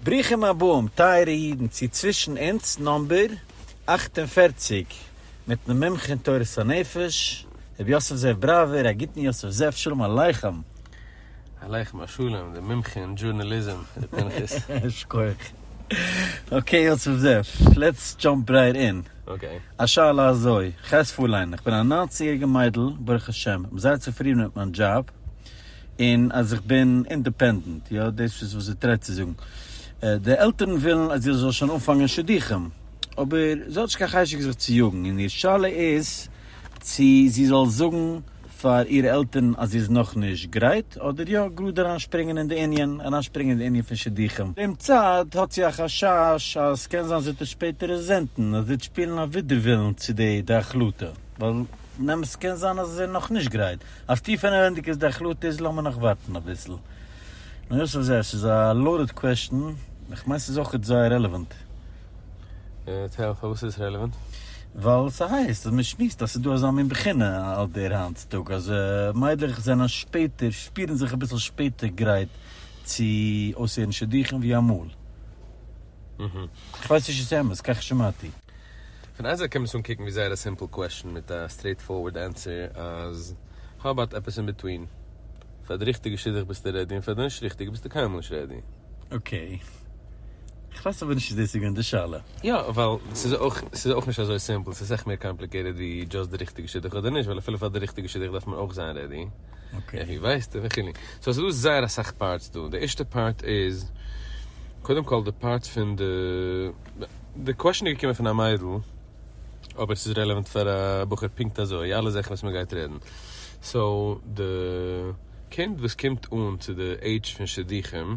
ברוכים הבאים טייערע אידן צו צווישן אונז נאמבער אַכט און פֿערציק מיטן מומחה אין תורת הנפש רבי יוסף זאב בראווער, א גוטן יוסף זאב שלום עליכם. עליכם השלום דער מומחה אין דזשורנאליזם ר' פנחס. שכוח. אקעי יוסף זאב, לעטס דזשאמפ רייט אין. אקעי. א שאלה אזוי, כ'הייס פארליין, כ'בין א ניינצן יעריגע מיידל ברוך השם, כ'בין זייער צופרידן מיט מיין דזשאב, און אז איך בין אינדעפענדענט, יא דאס איז וואס זי טרעט צו זאגן, די עלטערן ווילן אז איך זאל שוין אנפאנגען שידוכים, אבער זי האט נישט קיין חשק זיך צו יאגן, און איר שאלה איז צו זי זאל זאגן פאר אירע עלטערן אז זי איז נאך נישט גרייט, אדער יא גראד אריינשפרינגען אין די ענין, אריינשפרינגען אין די ענין פון שידוכים. דעם צד האט זי א חשש אז ס'קען זיין זי וועט עס שפעטער רעזענטן, אז זי וועט שפילן א ווידערווילן צו די החלטה, ווייל באמת קען זיין אז זי איז נאך נישט גרייט, אז טיפענערענדיג איז די החלטה איז לאמיר נאך ווארטן אביסל. נו יא ס'איז א ס'איז א לאודעד קוועשטן, איך מיין ס'איז אויכעט זייער רעלעוואנט. אה, טעל, פארוואס איז עס רעלעוואנט? ווייל ס'הייסט אז מ'שמועסט אז ס'איז דא אזא מין בחינה אויט דעיר היינט צוטאג אז מיידלעך זענען שפעטער, שפירן זיך אביסל שפעטער גרייט צו אויסהערן שידוכים ווי אמאל. כ'ווייס נישט איז אמת, כך שמעתי. פון איין זייט קען מען עס אנקוקן ווי זייער א סימפל קוועשן מיט א סטרעיט פארווארד ענטסער אז האו אבאוט עפעס אין ביטווין? פאר די ריכטיגע שידוך ביסטו רעדי און פאר די נישט ריכטיגע ביסטו קיינמאל נישט רעדי. אקעי. כ'ווייס אבער נישט איז דאס איז געווען די שאלה. יא, ווייל ס'איז אויך, ס'איז אויך נישט אזוי סימפל, ס'איז אסאך מער קאמפליקעיטעד ווי דזשאסט די ריכטיגע שידוך אדער נישט, ווייל אפילו פאר די ריכטיגע שידוך דארף מען אויך זיין רעדי. אקעי. ווי ווייסטו וכו'. סאו ס'איז דא זייער אסאך פארטס דא. די ערשטע פארט איז, קודם כל די פארט פון די, די קוועשן איז געקומען פון א מיידל, אבער ס'איז רעלעווענט פאר א בחור פונקט אזוי, אלע זאכן וואס מ'גייט רעדן. סאו די קינד וואס קומט אן צו די עידזש פון שידוכים,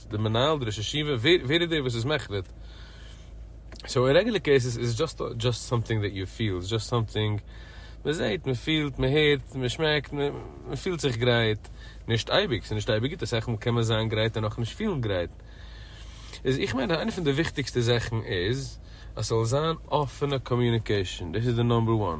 די מנהל די ראש ישיבה ווער ווער איז דער וואס איז מחליט? סאו אין רעגולער קעיסעס איז דזשאסט דזשאסט סאמטינג דעט יו פיל דזשאסט סאמטינג מען זעהט מען פילט מען הערט מען שמעקט מען פילט זיך גרייט נישט אייביג ס'איז נישט אייביג גוט אסאך מאל קען מען זיין גרייט און נאכנישט פילן גרייט איז איך מיין איינע פון די וויכטיגסטע זאכן איז אז ס'זאל זיין אפענע קאמיוניקעישאן דאס איז די נאמבער וואן.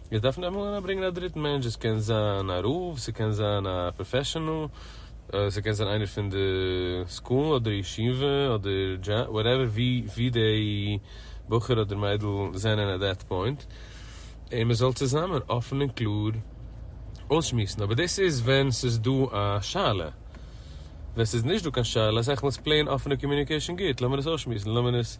איך דארף נעמען און אברענגען א דריטן מענטש, עס קען זיין א רב, ס'קען זיין א פראפעשענעל, ס'קען זיין איינער פון די סקול אדער ישיבה אדער דזשאב, וואטעווער, ווי די בחור אדער מיידל זענען עט דעט פוינט, און מען זאל צוזאמען אפן און קלאר אויסשמועסן, אבער דאס איז ווען ס'איז דא א שאלה, ווען ס'איז נישט דא קיין שאלה, אז עכ מ איז פלעין אפענע קאמיוניקעישאן גוט, לאמיר עס אויסשמועסן, לאמיר עס.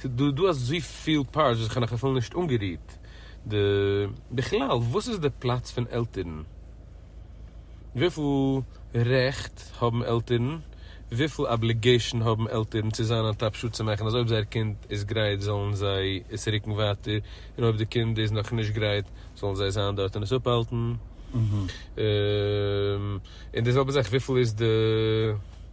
ס'דא דא אזויפיל פארטס וואס איך האב נאך אפילו נישט אנגערירט. די. בכלל וואס איז די פלאץ פון עלטערן? וויפיל רעכט האבן עלטערן? וויפיל אבליגעישאן האבן עלטערן צו זיין אן טאפ שעה צו מאכן אז אויב זייער קינד איז גרייט זאלן זיי עס רוקן ווייטער און אויב די קינד איז נאך נישט גרייט זאלן זיי זיין דארט און עס אפהאלטן? און די זעלבע זאך וויפיל איז די.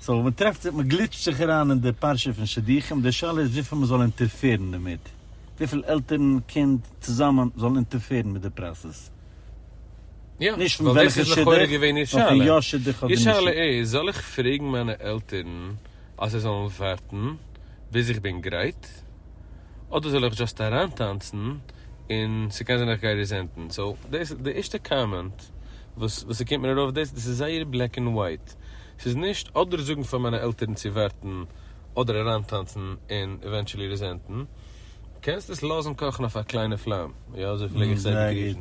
סאו מען טרעפט זיך, מען גליטשט זיך אריין אין די פרשה פון שידוכים, די שאלה איז וויפיל מען זאל אינטערפערן דערמיט, וויפיל עלטערן, קינד, צוזאמען זאלן אינטערפערן מיט די פראסעס. יא, נישט פון ווייל דאס וועלכע איז לכאורה שידוך, געווען איר נאר פון שאלה. יא שידוך אדער איר נישט שאלה שידוך. איז, זאל איך פרעגן מיינע עלטערן אז זיי זאלן ווארטן ביז איך בין גרייט, אדער זאל איך דזשאסט אריינטאנצן און ס'קען זיין איך גיי ריזענטן? סאו דאס, די ערשטע קאמענט וואס וואס ס'קומט מיר ארויף דאס, דאס איז זייער בלעק ענד ווייט, ס'איז נישט אדער זאגן פאר מיינע עלטערן צו ווערטן אדער אריינטאנצן און עווענטשעלי רעזענטן. קענסט עס לאזן קאכן אויף א קליינע פלאם. יא אזוי פלעג איך זיי באגריסן.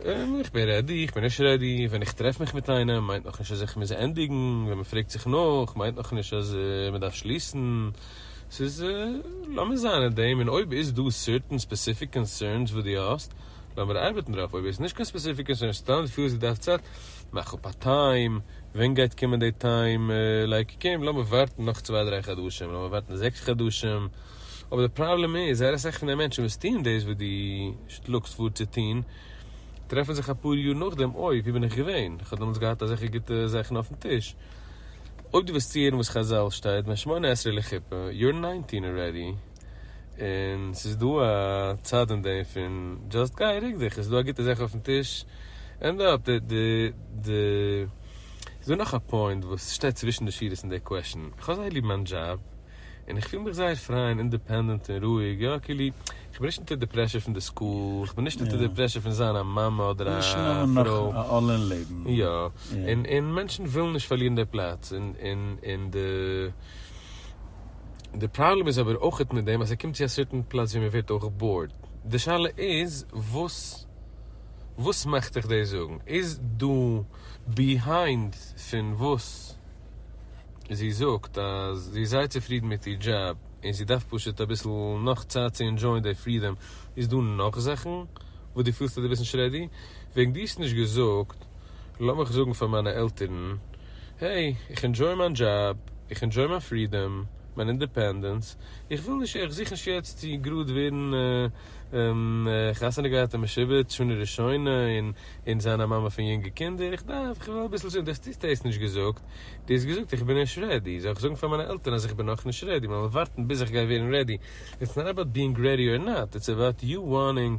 איך בין רעדי, איך בין נישט רעדי, ווען איך טרעף מיך מיט איינעם מיינט נאכנישט אז איך מוז ענדיגן, ווען מ'פרעגט זיך נאך מיינט נאכנישט אז מ'דארף שליסן. ס'איז לאמיר זיין אין דעם און אויב איז דא סערטען ספעסיפיק קאנסערנס וואס דו האסט, לאמיר ארבעטן דערויף, אויב איז נישט קיין ספעסיפיק קאנסערן, סתם פילסט די דארפסט צייט, מאך אפ א טיים, ווען גייט קומען די טיים, לייק קום לאמיר ווארטן נאך צוויי דריי חדשים, לאמיר ווארטן זעקס חדשים, אבער די פראבלעם איז, זייער אסאך פון די מענטשן וואס טוהן דאס וואס דו שלאגסט פאר צו טוהן, טרעפן זיך אפאר יאר נאכדעם, אוי ווי בין איך געווען, איך האב דעמאלטס געהאט אזעלכע גוטע זאכן אויפן טיש. אויב דו וועסט צוהערן וואס חזל שטייט, בין שמונה עשרה לחופה, יור ניינטין ארעדי. און ס'איז דא א צד אין דעם פון דזשאסט גיי רוק דיך, עס איז דא א גוטע זאך אויפן טיש, ענד אפ, די די די איז דא נאך א פוינט וואס שטייט צווישן די שורות אין די קוועשן, איך האב זייער ליב מיין דזשאב, און איך פיל מיך זייער פריי און אינדעפענדענט און רואיג, יא כאילו איך בין נישט אונטער די פרעשור פון די סקול, איך בין נישט אונטער די פרעשור פון זיין א מאמע אדער א פרוי, יא, און מענטשן ווילן נישט פארלירן די פלאץ און און און די. די פראבלעם איז אבער אויכעט מיט דעם אז ער קומט צו א סערטען פלאץ ווי מען ווערט אויך באורד. די שאלה איז וואס וואס מאכט דיך דאס זאגן? איז דא ביהיינד פון וואס זי זאגט אז זי איז זייער צופרידן מיט איר דזשאב און זי דארף פשוט אביסל נאך צייט צו ענדזשויען די פרידאם? איז דא נאך זאכן וואס דו פילסט אז דו ביסט נישט רעדי? וועגן דו האסט נישט געזאגט לאמיך זאגן פאר מיינע עלטערן. העי, איך אינדזשוי מיין דזשאב, איך אינדזשוי מיין פרידאם, מיין אינדעפענדענס, איך וויל נישט, איך זוך נישט יעצט צו גראד ווערן חתונה געהאט און משובץ שנה ראשונה און און זיין א מאמע פון יונגע קינדער, איך דארף, איך וויל אביסל זון, דו האסט דאס דאס נישט געזאגט, דו האסט געזאגט איך בין נישט רעדי, זאל איך זאגן פאר מיינע עלטערן אז איך בין נאך נישט רעדי, מ'וועל ווארטן ביז איך גיי ווערן רעדי, איטס נאט אבאוט בינג רעדי אר נאט, איטס אבאוט יו וואנטינג.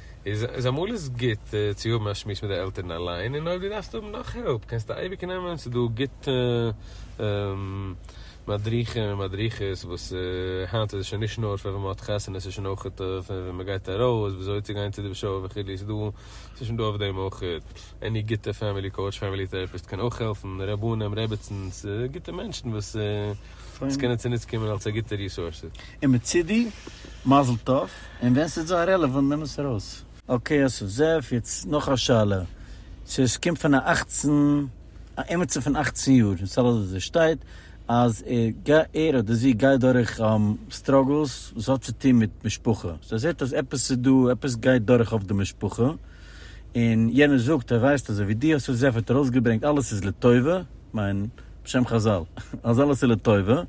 איז אמאל איז גוט צו האבן א שמועס מיט די עלטערן אליין, און אויב דו דארפסט האבן נאך העלפ קענסטו אייביג נעמען, ס'איז דא גוטע מדריכים און מדריכות וואס היינט איז עס שוין נישט נאר פון ווען מ'האט חתונה, ס'איז שוין אויך פון ווען מ'גייט ארויס, ווי אזוי צו גיין צו די שול וכו', ס'איז דא, ס'איז שוין דא אויף דעם אויך, עני גוטע פעמילי קאוטש, פעמילי טעראפיסט קען אויך העלפן, רבנים, רעביצינס, גוטע מענטשן וואס. עס קענען צוניץ קומען אלס א גוטע ריסורס. און מצידי מזל טוב, און ווען ס'איז זיי רעלעוואנט נעם עס ארויס. אקעי אסף זאב, יעצט נאך א שאלה, סאו עס קומט פון א אכצן, א עמיצער פון אכצן יאר, אין סל הדתי שטייט אז ער אדער זי גייט דורך סטראגלס וואס האט צו טון מיט משפחה, סאו ער זעט אז עפעס איז דא, עפעס גייט דורך אויף די משפחה, און יענער זאגט ער ווייסט אזוי ווי דו אסף זאב האט ארויסגעברענגט אלעס איז לטובה, כ'מיין. בשם חזל, אז אלעס איז לטובה,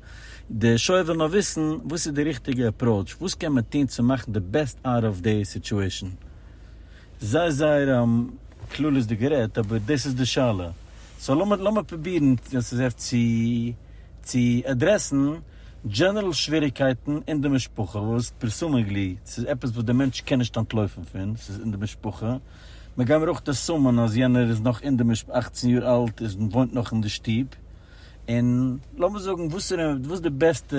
די שויער וויל נאר וויסן וואס איז די ריכטיגע עפראוטש, וואס קען מען טון צו מאכן די בעסט אוט אוו די סיטואשען. זייער זייער כללית'דיג גערעדט, אבער דאס איז די שאלה, סאו לאמיר לאמיר פרובירן עס איז אפט צו צו עדרעסן דזשענערל שוועריגקייטן אין די משפחה וואס פרעסומעגלי ס'איז עפעס וואס די מענטש קען נישט אנטלויפן פון, ס'איז אין די משפחה. מ'גיי מיר אויך דערסאמען אז יענער איז נאך אין די משפ אַכצן יאר אלט איז און וואוינט נאך אין די שטוב, און לאמיר זאגן וואסערע וואס די בעסטע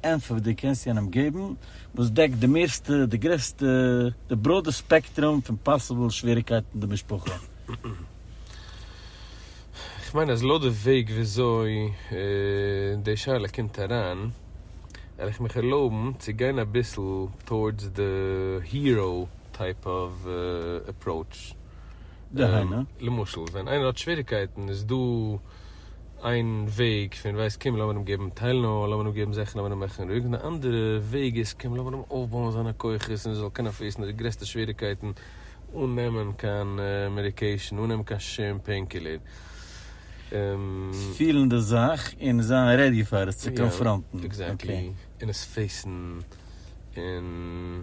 ענפער די קענסט יענעם געבן וואס דעקט די מערסטע די גרעסטע די בראדע ספעקטרום פון פאסיבל שוועריקייטן אין די משפחה. כ'מיין אז לויט די וועג וויאזוי די שאלה קומט אריין וועל איך מיך ערלויבן צו גיין אביסל טאורדס די היראו טייפ אוו אפראוטש. דהיינו? למשל ווען איינער האט שוועריקייטן איז דא איין וועג פון ווייסט קום לאמיר אים געבן טיילנאל לאמיר אים געבן זאכן לאמיר אים מאכן רואיג און די אנדערע וועג איז קום לאמיר אים אויפבויען זיינע כוחות און ער זאל קענען פעיסן די גרעסטע שוועריקייטן אן נעמען קיין מעדיקעישן אן נעמען קיין שום פעין קילער. פילן די זאך און זיין רעדי פאר עס צו קאנפראנטן. עקזעקטלי און עס פעיסן און.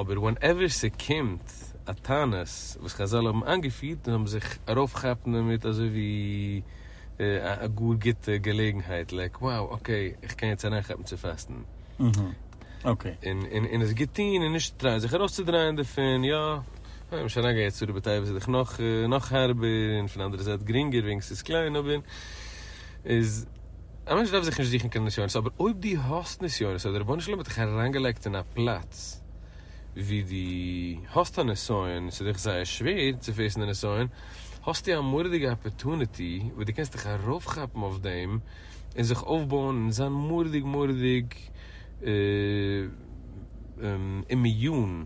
אבער ווענעווער ס'קומט א תענית וואס חזל האבן איינגעפירט און האבן זיך ארויפכאפן דערמיט אזוי ווי א גאר גוטע געלעגנהייט לייק wow אקעי איך קען יעצט אריינכאפן צו פאסטן און עס גוט טון און נישט טרייען זיך ארויסצודרייען דערפון יא און נישט אריינגיין יעצט צו רבי טייב איז דאך נאך נאך הארבער און פון אנדערע זייט גרינגער וועגן ס'איז קליין אבער איז א מענטש דארף זיך נישט זוכן קיין נסיונות, אבער אויב דו האסט נסיונות אדער רבונו של עולם האט דיך אריינגעלייגט אין א פלאץ וואו דו האסט א נסיון און ס'איז דיך זייער שווער צו פעיסן די נסיון, האסטו א מורא'דיגע אפערטוניטי וואס דו קענסט דיך ארויפכאפן אויף דעם און זיך אויפבויען און זיין מורא'דיג מורא'דיג אימיון.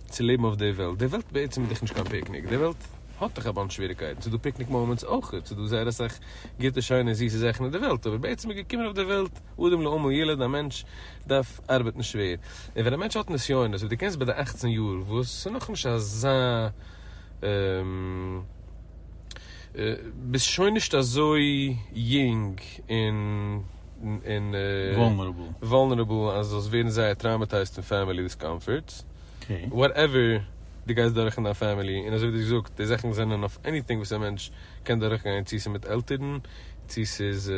צו לעבן אויף די וועלט, די וועלט בעצם איז דאך נישט קיין פיקניק, די וועלט האט דאך א באנטש שוועריקייטן, ס'איז דא פיקניק מאמענטס אויכעט, ס'איז דא זייער אסאך גוטע שיינע זיסע זאכן אין די וועלט, אבער בעצם איז געקומען אויף די וועלט אדם לעמו ילד, א מענטש דארף ארבעטן שווער, און ווען א מענטש האט נסיונות, ווי דו קענסט ביי די אכצן יאר וואס ס'איז נאכנישט אזא, ביסט שוין נישט אזוי יונג און. און וואלנערעבל אז זאלסט ווערן זייער טראמעטייזט פון פעמילי דיסקאמפארטס, וואטעווער דו גייסט דורך אין דיין פעמילי, און אזוי ווי דו האסט געזאגט די זאכן זענען אויף עניטינג וואס א מענטש קען דורך גיין צו ס'איז מיט עלטערן, צו ס'איז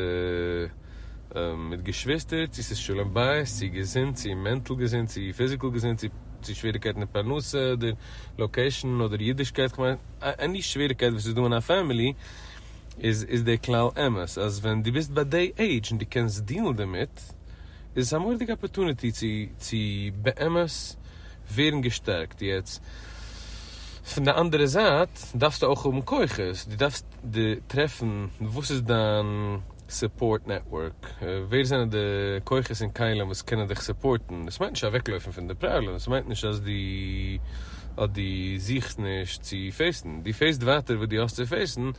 מיט געשוויסטער, צו ס'איז שלום בית, צו געזונט, צו מענטל געזונט, צו פיזיקעל געזונט, צו שוועריקייטן אין פרנסה אדער לאקעישן אדער אידישקייט, כ'מיין עני שוועריקייט וואס איז דא אין א פעמילי, איז איז דער כלל אמת אז ווען דו ביסט ביי דעי עידזש און דו קענסט דיעלן דערמיט איז עס א מורא'דיגע אפערטוניטי צו צו באמת ווערן געשטערקט, יעצט פון די אנדערע זייט דארפסטו אויך האבן כוחות, דו דארפסט טרעפן וואס איז דיין. סופארט נעטווארק, ווער זענען די כוחות און כלים וואס קענען דיך סופארטן, דאס מיינט נישט אוועקלויפן פון די פראבלעם, עס מיינט נישט אז דו אז דו זוכסט נישט צו פעיסן, דו פעיסט ווייטער וואס דו האסט צו פעיסן,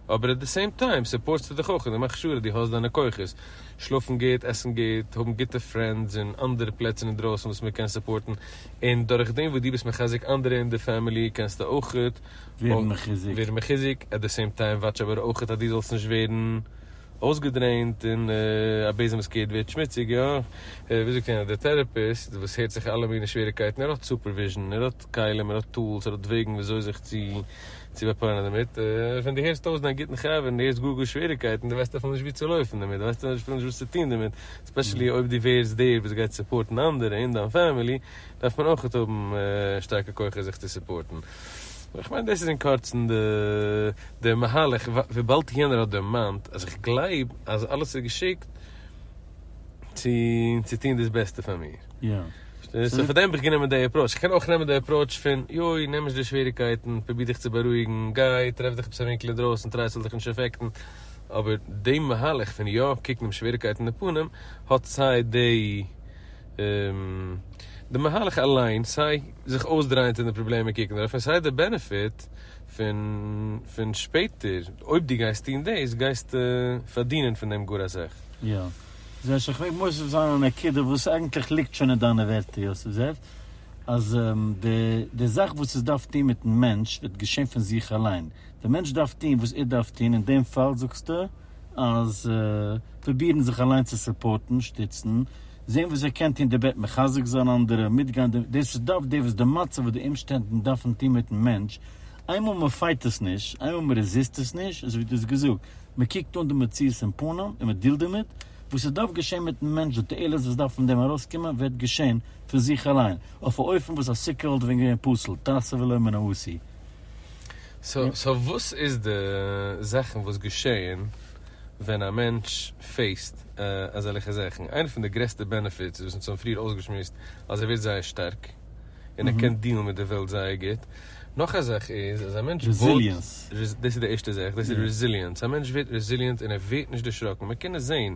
אבער עט די סעים טיים סופארטסטו דיך אויך און דו מאכסט שור אז דו האסט דיינע כוחות, שלאפן גוט, עסן גוט, האבן גוטע פרענדס און אנדערע פלעצער אינדרויסן וואס מען קען סופארטן, און דורך דעם וואס דו ביסט מחזק אנדערע אין די פעמילי קענסטו אויך ווערן מחיזוק. ווערן מחיזוק, עט די סעים טיים וואטש אבער אויכעט אז דו זאלסט נישט ווערן אויסגעדרעינט און א בעזעם וואס קערט ווערט שמוציג, יא ווי זאגט יענער דער טעראפיסט וואס הערט זיך אלע מיני שוועריקייטן ער האט סופערוויזשן ער האט כלים ער האט טולס ער האט וועגן ווי אזוי זיך צו צו באפרייענען דערמיט, ווען דו הערסט אויס דיין גוטן חבר און דו הערסט גאר גאר שוועריקייטן דו ווייסט אפילו נישט וואו צו לויפן דערמיט דו ווייסט אפילו נישט וואס צו טון דערמיט, עספעשעלי אויב דו ווערסט דער וואס גייט סופארטן אנדערע און דיין פעמילי דארף מען אויכעט האבן שטארקע כוחות זיך צו סופארטן. איך מיין דאס איז אין קורצן די מהלך, וויבאלד יענער האט דערמאנט אז איך גלייב אז אלעס איז געשיקט צו טון דאס בעסטע פאר מיר. יא. סאו פאר דעם האב איך גענומען די עפראוטש. איך קען אויך נעמען די עפראוטש פון יוי, נעם נישט די שוועריגקייטן, פרוביר דיך צו בארואיגן, גיי טרעף דיך עפעס א ווינקל אינדרויסן, טריי עס זאל דיך נישט אפעקטן, אבער די מהלך פון יא קוקן דעם שוועריגקייט אין די פנים האט סיי די. די מהלך אליין, סיי זיך אויסדרייען צו די פראבלעם און קוקן דערויף, און סיי די בענעפיט פון שפעטער, אויב דו גייסט טון דאס, גייסטו פארדינען פון דעם גאר אסאך. יא. זשע, איך מעג מוסיף זיין א נקודה וואס אייגנטליך ליגט שוין אין דיינע ווערטער יוסף זאב, אז די זאך וואס עס דארף טון מיט'ן מענטש וועט געשען פון זיך אליין. דער מענטש דארף טון וואס ער דארף טון, אין דעם פאל זאגסטו, אז פרובירן זיך אליין צו סופארטן, שטיצן, זען וואס איר קענט טון דערבעט, מחזק זיין אנדערע, מיטגיין די, דאס איז דארף דער וואס די מצב וואס די אומשטענדן דארפן טון מיטן מענטש, איינמאל מען פייט עס נישט, איינמאל מען רעזיסט עס נישט, אזוי ווי דו האסט געזאגט, מען קוקט אן די מציאות אין פנים און מען דילט דערמיט, וואס עס דארף געשען מיטן מענטש, די תועלת וואס דארף פון דעם ארויסקומען וועט געשען פון זיך אליין, אויף א אופן וואס א סוכה וואלט ווען געווען פסול, תעשה ולא מן העשי. סאו וואס איז די זאכן וואס געשעהן ווען א מענטש פעיסט אזעלכע זאכן? איינע פון די גרעסטע בענעפיטס וואס אונז האבן פריער אויסגעשמועסט אז ער ווערט זייער שטארק און ער קען דילן מיט די וועלט זייער גוט, נאך א זאך איז אז א מענטש וואוט, דאס איז די ערשטע זאך, דאס איז רעזיליענס, א מענטש ווערט רעזיליענט און ער ווערט נישט דערשראקן, מיר קענען זעהן.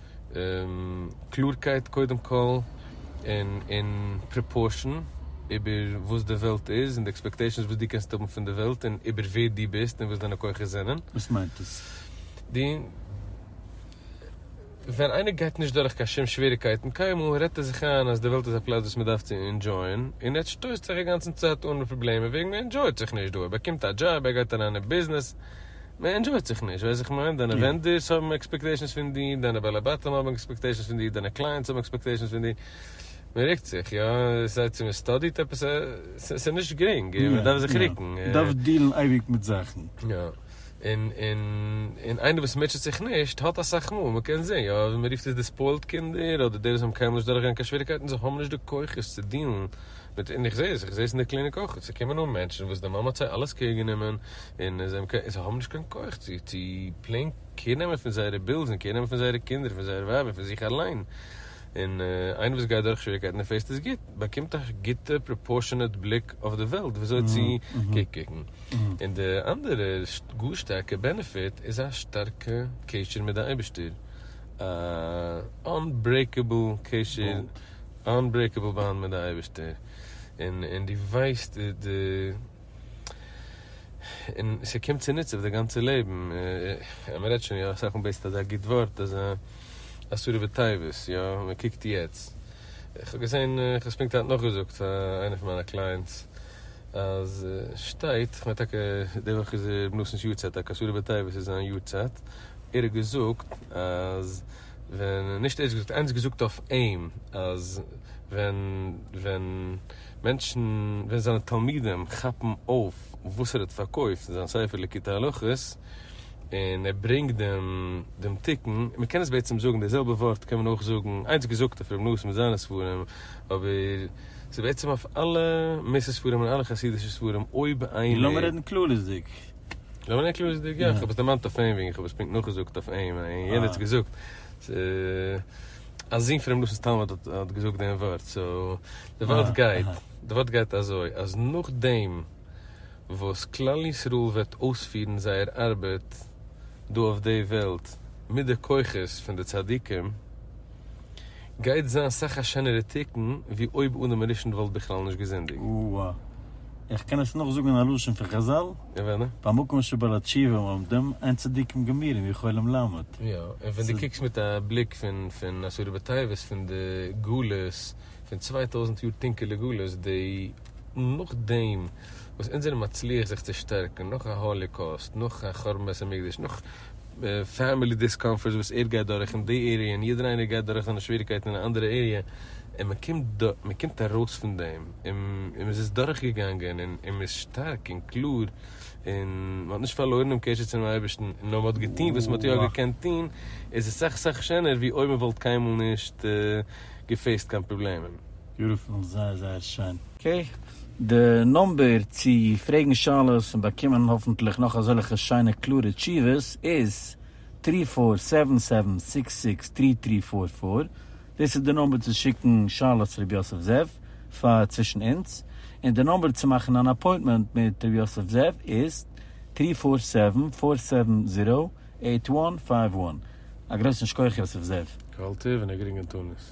קלארקייט קודם כל און און פראפארשען איבער וואס די וועלט איז און די עקספעקטעישאנס וואס דו קענסט האבן פון די וועלט און איבער ווער דו ביסט און וואס דיינע כוחות זענען. וואס מיינט עס? די ווען איינער גייט נישט דורך קיין שום שוועריקייטן קיינמאל רעדט ער זיך איין אז די וועלט איז א פלאץ וואס מען דארף צו אינדזשויען און ער שטויסט זיך אגאנצן צייט אן מיט פראבלעמען וועגן ער אינדזשויט זיך נישט דא ער באקומט א דזשאב ער גייט אריין אין ביזנעס מען ענדשויט זיך נישט, ווייסט איך מיין, דיינע ווענדערס האבן עקספעקטעישאנס פון דיר, דיינע בעלי בתים האבן עקספעקטעישאנס פון דיר, דיינע קלייענטס האבן עקספעקטעישאנס פון דיר, מען ריקט זיך, יא, סיי צו מען סטאדיט עפעס, ס'איז נישט גרינג, און מען דארף זיך ריקן. מען דארף דיעלן אייביג מיט זאכן. יא, און, און, און איינער וואס מוטשעט זיך נישט האט אסאך מאל, מען קען זען, יא, מען רופט עס די ספוילט קינדער, אדער די וואס האבן קיינמאל נישט דורכגעגאנגען קיין שוועריגקייטן, זיי האבן נישט די כוחות צו דיעלן. מיט און איך זעה עס, איך זעה עס אין די קליניק אויך, ס'קומען אן מענטשן וואס די מאמע האט זיי אלעס קעיר גענומען, און זיי האבן קיין, זיי האבן נישט קיין כח צו צו פלעין קעיר נעמען פון זייערע בילס און קעיר נעמען פון זייערע קינדער און פון זייער ווייב און פון זיך אליין, און איינער וואס גייט דורך שוועריקייטן און פעסט עס גוט, באקומט א גוטע פראפארשענעט בליק אויף די וועלט וויאזוי צו קוקן, און די אנדערע גאר שטארקע בענעפיט איז א שטארקע קשר מיט די אייבערשטער, א אנברעיקעבל קשר. אנברעיקעבל באנד מיט די אייבערשטער, און און דו ווייסט די די און ס'קומט צוניץ אויף די גאנצע לעבן, און מ'רעדט שוין יא אסאך און בעסט אזא גוט ווארט אזא אסורי בתיבות יא, מ'קוקט יעצט, כ'האב געזען כ'האב עס פונקט היינט נאכגעזאגט פאר איינע פון מיינע קלייענטס אז שטייט, כ'מיין טאקע די וואך איז ר' נתן'ס יארצייט, טאקע אסורי בתיבות איז זיין יארצייט, ער האט געזאגט אז. ווען נישט ערנסט געזאגט ערנסט געזאגט אויף אים אז ווען ווען מענטשן ווען זיינע תלמידים כאפן אויף וואס ער האט פארקויפט אין זיין ספר ליקוטי הלכות און ער ברענגט דעם דעם תיקון מען קען עס בעצם זאגן די זעלבע ווארט קען מען אויך זאגן ערנסט געזאגט אויף ר' נח מיט זיינע ספרים אבער ס'איז בעצם אויף אלע מס' ספרים און אלע חסידישע ספרים אויב איינער. און לאמיר רעדן כללית'דיג. לאמיר זעהן קלאר איז די געפ, איך האב עס דערמאנט אויף אים וועגן איך האב עס פונקט נאכגעזאגט אויף אים און יענער האט עס געזאגט, א זון פונעם נאסן תלמיד האט געזאגט דעם ווארט, סאו די ווארט גייט, די ווארט גייט אזוי אז נאכדעם וואס כלל ישראל וועט אויספירן זייער ארבעט דא אויף די וועלט מיט די כוחות פון די צדיקים, גייט זיין אסאך א שענערע תיקון ווי אויב אדם הראשון וואלט בכלל נישט געזינדיגט. אוה א. איך קען עס נאכזאגן אין א לשון פון חזל, במקום שבו לתשיבים עומדים, אין צדיקים גמירים ווי חולם למות. יא, און ווען דו קוקסט מיט א בליק פון אסורי בתייבות פון די גלות, פון צוויי טויזנט יאר טונקעלע גלות, די נאכדעם וואס אונז זענען מצליח זיך צו שטערקן, נאך א האליקאוסט, נאך א חורבן בית המקדש, נאך. פעמילי דיסקאמפארטס וואס ער גייט דורך אין די עריע און יעדער איינער גייט דורך זיינע שוועריקייטן אין א אנדערע עריע און מען קומט מען קומט ארויס פון דעם און מען איז עס דורך געגאנגען און מען איז שטארק און קלאר און מען האט נישט פארלוירן דעם קשר צום אייבערשטן נאר מען האט געטון וואס מען האט יא געקענט טון איז עס סאך סאך שענער ווי אויב מען וואלט קיינמאל נישט געפעיסט קיין פראבלעמען. ביוטיפול, זייער זייער שיין. אקעי, די נומבער צו פרעגן שאלות און באקומען האפנטליך נאך אזעלכע שיינע קלארע תשובות איז טרי פאר סעווען סעווען סיקס סיקס טרי טרי פאר פאר, דאס איז די נומבער צו שיקן שאלות צו ר' יוסף זאב פאר צווישן אונז, און די נומבער צו מאכן אן אפוינטמענט מיט ר' יוסף זאב איז טרי פאר סעווען פאר סעווען זירא עיט וואן פייוו וואן, א גרויסן שכח יוסף זאב. קהלתיו און א גרינגן תענית.